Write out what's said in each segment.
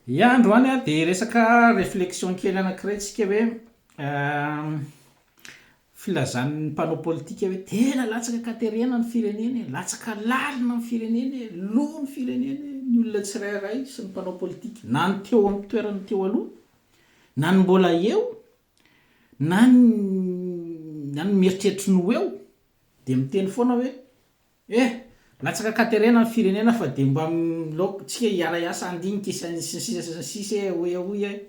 Ia androany a dia resaka reflexion kely anakiray tsika hoe filazan'ny mpanao politika hoe tena latsaka katerena ny firenena e, latsaka lalina ny firenena e, lo ny firenena e, ny olona tsirairay sy ny mpanao politika na ny teo amin'ny toerana teo aloha na ny mbola eo na ny na ny mieritreritra ny ho eo dia miteny foana hoe Eh! Latsaka katerena ny firenena fa dia mba milaoka tsika hiara hiasa handinika sy ny sisa sy ny sisa eh! Hoy aho hoy eh!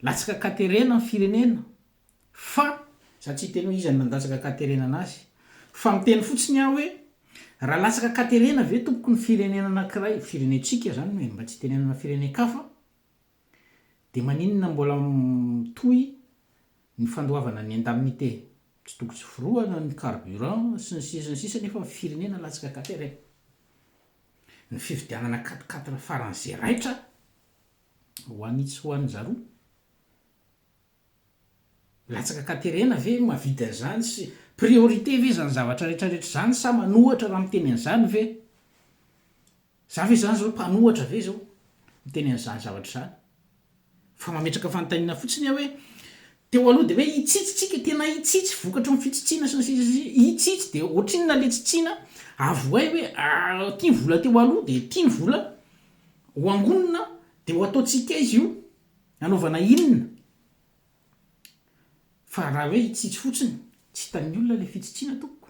Latsaka katerena ny firenena fa za tsy hiteny hoe iza no nandatsaka katerena anazy fa miteny fotsiny aho hoe raha latsaka katerena ve tompoko ny firenena anankiray, firenentsika zany eh! Mba tsy hitenenana firenen-kafa. Dia maninona mbola mitohy ny fandoavana ny indemnité? Tsy tokony tsy forohana ny carburant sy ny sisa sy ny sisa nefa ny firenena latsaka tanteraka. Ny fividianana quatre quatre faran'izay raitra ho an'i tsy ho an'i zaroa. Latsaka katerena ve no mahavidy an'izany sy priorité ve izany zavatra rehetra rehetra izany sa manohatra raha miteny an'izany ve za ve izany zao mpanohatra ve zao miteny an'izany zavatra izany fa mametraka fanontaniana fotsiny aho hoe teo aloha dia hoe hitsitsy tsika tena hitsitsy vokatry ny fitsitsiana sy ny sisa sy ny sisa hitsitsy dia ohatrinona le tsitsiana avohay hoe ah ty ny vola teo aloha dia ty ny vola ho angonina dia ho ataontsika izy io Nanaovana inona? Fa raha hoe hitsitsy fotsiny, tsy hitan'ny olona ilay fitsitsiana tompoko.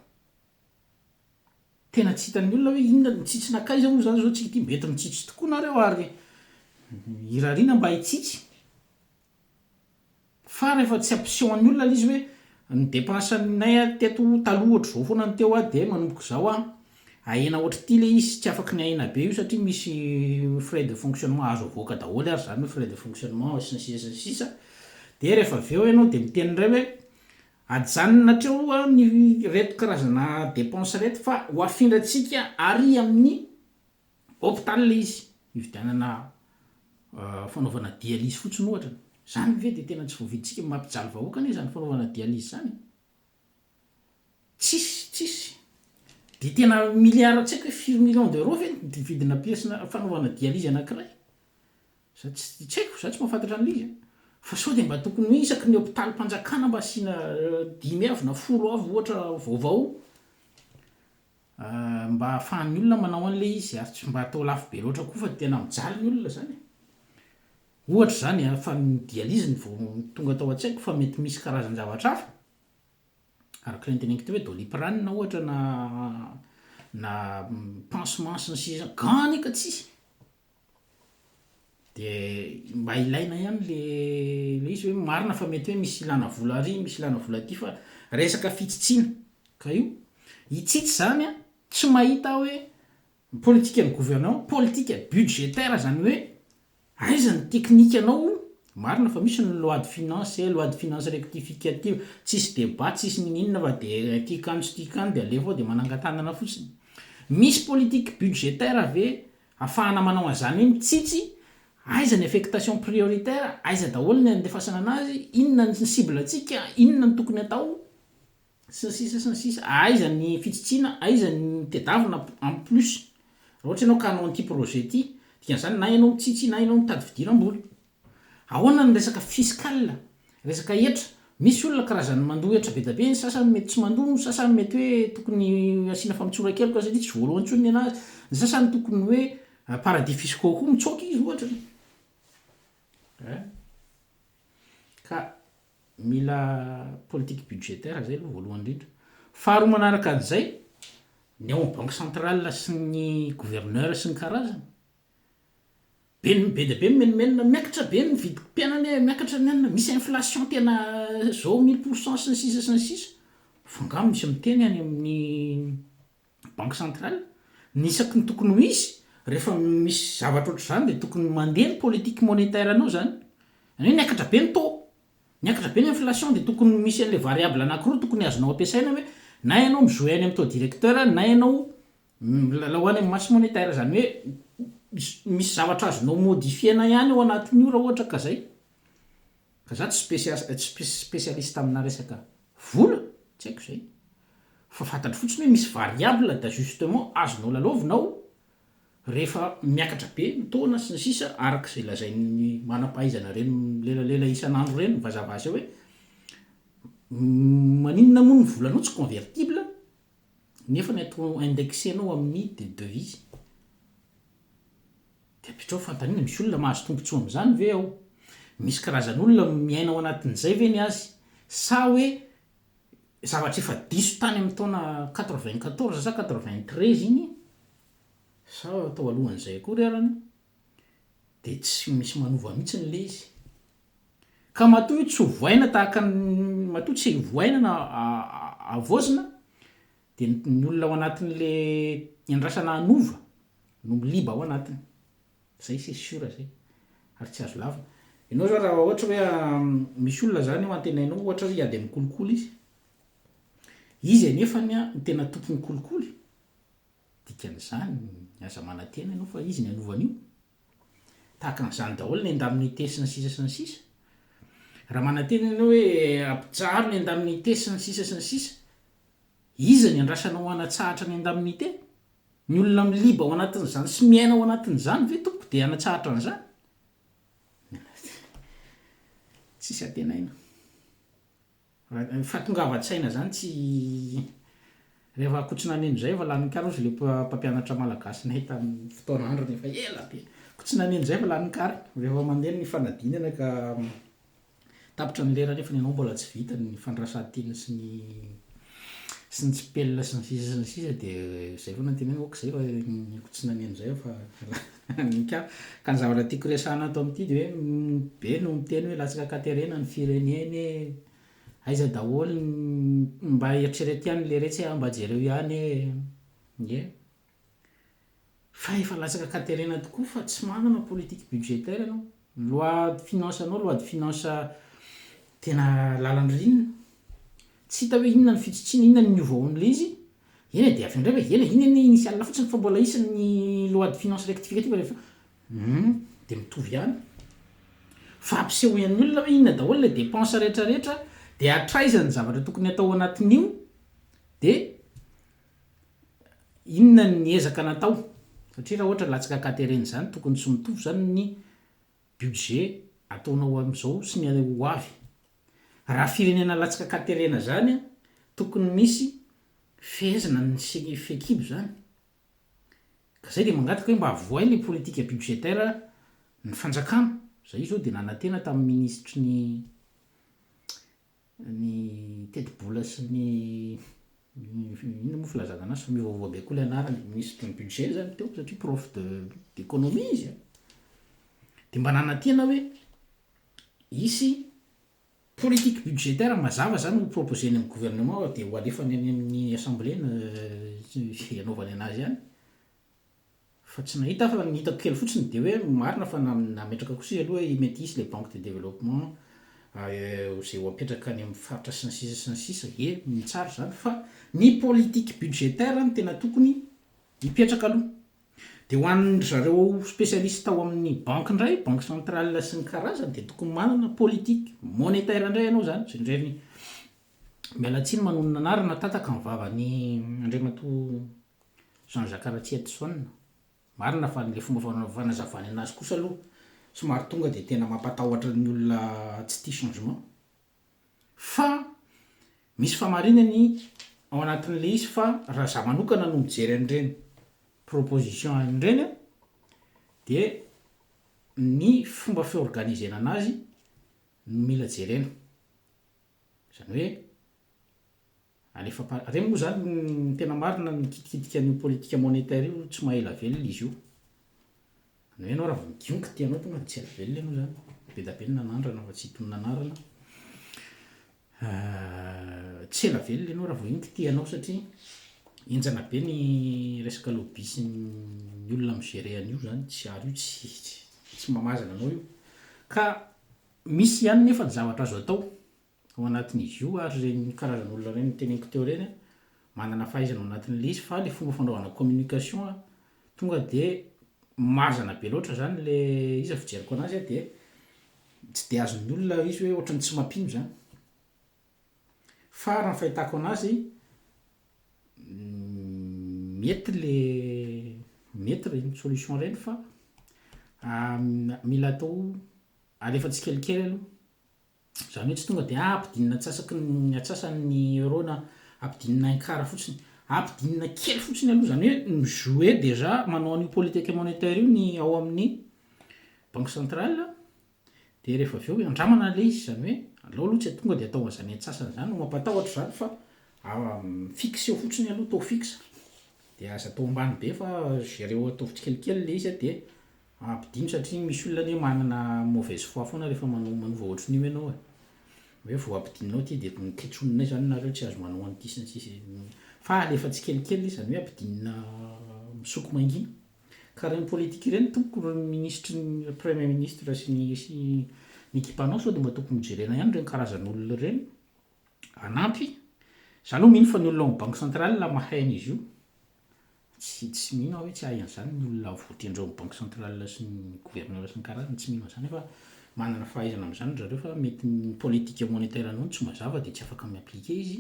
Tena tsy hitan'ny olona hoe inona no mitsitsy nankaiza moa izany izao tsika ity, mety mitsitsy tokoa nareo ary irariana mba hitsitsy. Fa rehefa tsy ampiseho an'ny olona ilay izy hoe ny dépense-nay teto taloha ohatr'izao foana ny teo dia manomboka izao aho, Ahena ohatr'ity le izy tsy afaky ny ahena be io satria misy frais de fonctionnement azo avoaka daholo ary zany hoe frais de fonctionnement sy ny sisa sy ny sisa dia rehefa avy eo ianao dia miteny indray hoe ajanona hatreo ny ireto karazana dépenses ireto fa ho afindrantsika ary amin'ny hôpital ilay izy hividianana fanaovana dialyse fotsiny ohatra, zany ve dia tena tsy voavidintsika? mampijaly vahoaka anie zany fanaovana dialyse zany e! Tsisy, tsisy. Dia tena milliards tsy haiko hoe firy millions d'euros ve ny vidina pièce na fanaovana dialyse anankiray? Za tsy tsy haiko, za tsy mahafantatra an'ilay izy a! Fa sao dia mba tokony hoe isaky ny hopitalim-panjakana mba asiana dimy avy na folo avy ohatra vaovao mba ahafahan'ny olona manao an'ilay izy ary tsy mba atao lafo be loatra koa fa tena mijaly ny olona zany e! Ohatra izany an, fa ny dialyse no vao tonga tao an-tsaiko fa mety misy karazan-javatra hafa araka ilay noteneniko teo hoe doliprane ohatra na na pansement sy ny sisa, gants anie ka tsisy, dia mba ilaina ihany le le izy hoe marina fa mety hoe misy ilana vola ary misy ilana vola aty fa resaka fitsitsiana ka io hitsitsy izany an, tsy mahita aho hoe Ny politikan'ny gouvernement, politika budgétaire izany hoe aiza ny teknikanao hono? Marina fa misy ny loi de finance, loi de finance rectificative, tsisy débat tsisy niniana fa dia ity kano sy ity kano dia alefa ao dia manangan-tanana fotsiny. Misy politique budgétaire ve afahana manao an'izany hoe mitsitsy aiza ny affectation prioritaire, aiza daholo ny andefasana an'azy, inona ny cible-ntsika, inona ny tokony atao? sy ny sisa sy ny sisa aiza ny fitsitsiana aiza ny tedavina en plus raha ohatra ianao ka hanao an'ity projet ity dikan'izany na ianao mitsitsy na ianao mitady fidiram-bola ahoana ny resaka fiscal resaka hetra misy olona karazan'ny mandoa hetra be dia be ny sasany mety tsy mandoa ny sasany mety hoe tokony asiana famotsoran-keloka satria tsy voaloha intsony ny an'azy ny sasany tokony hoe paradis fiscaux koa mitsoaka izy ohatra eh ka Mila politique budgétaire zay aloha voalohany indrindra. Faharoa manaraka an'izay, ny ao amin'ny banque centrale sy ny gouverneur sy ny karazany, be ny be dia be ny menomenona, miakatra be ny vidim-piainana e, miakatra ny anona, misy inflation tena zao mille pour cent sy ny sisa sy ny sisa, f'angaha misy miteny any amin'ny Banque centrale, ny isaky ny tokony ho izy, rehefa misy zavatra ohatr'izany dia tokony mandeha ny politique monétaire anao izany. Izany hoe niakatra be ny taux, niakatra be ny inflation dia tokony misy an'ilay variable anankiroa tokony azonao ampiasaina hoe na ianao mi-jouer any amin'ny taux directeur na ianao milalao any amin'ny masse monétaire. Izany hoe misy zavatra azonao modifier-na ihany ao anatin'io raha ohatra ka izay. Fa za tsy spesialista amina resaka vola, tsy haiko zay. Fa fantatro fotsiny hoe misy variables d'ajustement azonao lalaovina ao rehefa miakatra be ny taona sy ny sisa araka izay lazain'ny manam-pahaizana ireny milelalela isan'andro ireny vazabaza hoe maninona moa ny volanao tsy convertible nefa ny atao indexenao amin'ny de devises. Dia apetraho fanontaniana, misy olona mahazo tombontsoa amin'izany ve ao? Misy karazan'olona miaina ao anatin'izay ve ny azy? Sa hoe zavatra efa diso tany amin'ny taona quatre-vingt-quatorze sa quatre-vingt-treize iny, sa tao alohan'izay akory arany, dia tsy misy manova mihitsiny ilay izy? Ka matoa io tsy hovaina tahaka ny, matoa tsy hovaina na havaozina, Dia ny olona ao anatin'le iandrasana hanova no miliba ao anatiny. Zay c'est sûr zay. Ary tsy azo lavina. Ianao zao raha ohatra hoe misy olona zany eo antenainao ohatra hiady amin'ny kolikoly izy, izy anefany no tena tompon'ny kolikoly, dikan'izany aza manantena ianao fa izy no hanova an'io. Tahaka an'izany daholo ny indemnité sy ny sisa sy ny sisa. Raha manantena ianao hoe ampijaro ny indemnité sy ny sisa sy ny sisa, iza ny andrasana ho hanatsahatra ny indemnité? Ny olona miliba ao anatin'izany sy miaina ao anatin'izany ve tompoko dia hanatsahatra an'izany? Tsisy antenaina. Ny fahatongavan-tsaina zany tsy rehefa ko tsy nanino izay efa lanin'ny kary ozy le mpampianatra malagasinay tamin'ny fotoana androny efa ela be ko tsy nanino izay efa lanin'ny kary rehefa mandeha ny fanadinana ka tapitra ny lera nefa ny anao mbola tsy vita ny fandrasan-teny sy ny sy ny tsipelina sy ny sisa sy ny sisa dia izay foana ny tenenana ok izay efa ko tsy nanino izay efa lany Nika, ka ny zavatra tiako resahana ato amin'ity dia hoe ny be no miteny hoe latsaka ankaterena ny firenene, aiza daholo ny, mba eritrereto ihany ny leretsy a, mba jereo ihany e, ie, fa efa latsaka ankaterena tokoa fa tsy manana politique budgétaire ianao, Ny loi de finance anao loi de finance tena lalan'ny rina, tsy hita hoe inona ny fitsitsiana, inona ny niova ao amin'ilay izy, eny e dia avy eo indray hoe eny e iny anie initiale fotsiny fa mbola hisy ny loi de finance rectificative rehefa hum dia mitovy ihany, fa ampisehoan'ny olona hoe inona daholo ilay dépense rehetra rehetra dia hatraiza ny zavatra tokony hatao ao anatin'io dia. Inona ny ezaka natao? Satria raha ohatra latsaka katerena izany tokony tsy mitovy izany ny budget ataonao amin'izao sy ny ho avy. Raha firenena latsaka katerena izany tokony misy fehezina ny fehikibo izany. Ka izay dia mangataka hoe mba avohay ilay politique budgétaire ny fanjakana. Izahay izao dia nanantena tamin'ny minisitry ny ny tetibola sy ny inona moa filazana anazy fa mivaovao be koa ilay anarany ministre ny budget zany teo satria prof de d'économie izy a dia mba nanatiana hoe hisy politique budgétaire mazava zany ho proposer ny amin'ny gouvernement dia ho alefany any amin'ny assemblée ny hanaovany anazy any Fa tsy nahita fa ny hitako kely fotsiny dia hoe marina fa nametraka kosa izy aloha i mety hisy le banque de développement izay ho apetraka any amin'ny faritra sy ny sisa sy ny sisa e mitsara izany fa ny politique budgétaire no tena tokony hipetraka aloha dia ho an'ny ry zareo spécialiste ao amin'ny banque indray banque centrale sy ny karazany dia tokony manana politique monétaire indray ianao izany izay indray ny miala tsiny manonona anarana tataka ny vavan'ny Andriamatoa Jean Jacques Ratsietison, Marina fa ilay fomba fanazavany anazy kosa aloha somary tonga dia tena mampatahotra ny olona tsy tia changement. Fa misy famarinany ao anatin'ilay izy fa raha za manokana no mijery an'ireny proposition ireny an, dia ny fomba fiorganisena anazy no mila jerena. Izany hoe. Alefam-panahy. Ireny moa izany ny tena marina mikitikitika an'io politika monétaire io tsy maha ela velona izy io. Ny hoe ianao raha vao migiongy ity ianao tonga dia tsy ela velona ianao izany. Be da be ny nanandrana fa tsy hitonona anarana. Tsy ela velona ianao raha vao iny kitihanao satria henjana be ny resaka lobby sy ny olona mi-gerer an'io izany. Tsy ary io tsy tsy tsy mamazana anao io. Ka misy ihany nefa ny zavatra azo atao ao anatin'izy io ary ireny karazan'olona ireny noteneniko teo ireny manana fahaizana ao anatin'ilay izy fa ilay fomba fanaovana communication tonga dia mazana be loatra izany ilay izy raha ny fijeriko anazy dia tsy dia azon'ny olona ilay izy hoe ohatran'ny tsy mampino izany. Fa raha ny fahitako anazy mety ilay mety ireny solution ireny fa mila atao alefa tsikelikely aloha. Izany hoe tsy tonga dia ampidinina antsasaky ny antsasany ny euro na ampidinina un quart fotsiny. Ampidinina kely fotsiny aloha, izany hoe mi-jouer déjà manao an'io politique monétaire io ny ao amin'ny banque centrale, dia rehefa avy eo handramana ilay izy, izany hoe aleo aloha tsy tonga dia atao an'izany antsasany izany no mampatahotra izany fa fixer fotsiny aloha, taux fixe, dia aza atao ambany be fa gérer-o ataovy tsikelikely ilay izy dia. Ampidino satria misy olona anie manana mauvaise foi foana rehefa manao manova ohatrin'io ianao e. Hoe vao ampidinonao ity dia mikitsonona izany nareo tsy azo manao an'ity sy ny sisa e. Fa alefa tsikelikely le izany hoe ampidinina misoko mangina. Ka ireny politika ireny tompoko ry minisitry ny premier ministre sy ny sy ny ekipanao sao dia mba tokony hojerena ihany ireny karazan'olona ireny hanampy. Za aloha mino fa ny olona ao amin'ny banque centrale mahay an'izy io. Tsy tsy mino aho hoe tsy hahay an'izany ny olona voatendry ao banque centrale sy ny gouverneur sy ny karazany tsy mino an'izany fa manana fahaizana amin'izany ry zareo fa mety ny politique monetaire anao no tsy mazava dia tsy afaka mi appliquer izy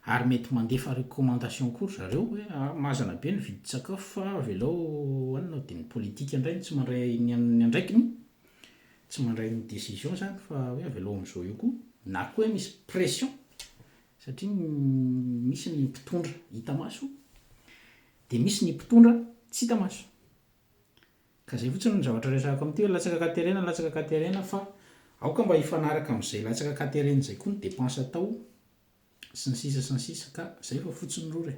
ary mety mandefa recommandation koa ry zareo hoe ah mazana be ny vidin-tsakafo fa avelao anona dia ny politique indray no tsy mandray ny an'ny andraikiny tsy mandray ny décision izany fa hoe avelao amin'izao eo koa na koa hoe misy pression Satria misy ny mpitondra hita maso dia misy ny mpitondra tsy hita maso. Ka izay fotsiny no zavatra resahako amin'ity hoe latsaka katerena, latsaka katerena fa aoka mba hifanaraka amin'izay latsaka katerena izay koa ny dépenses atao sy ny sisa sy ny sisa ka izay fa fotsiny rora e.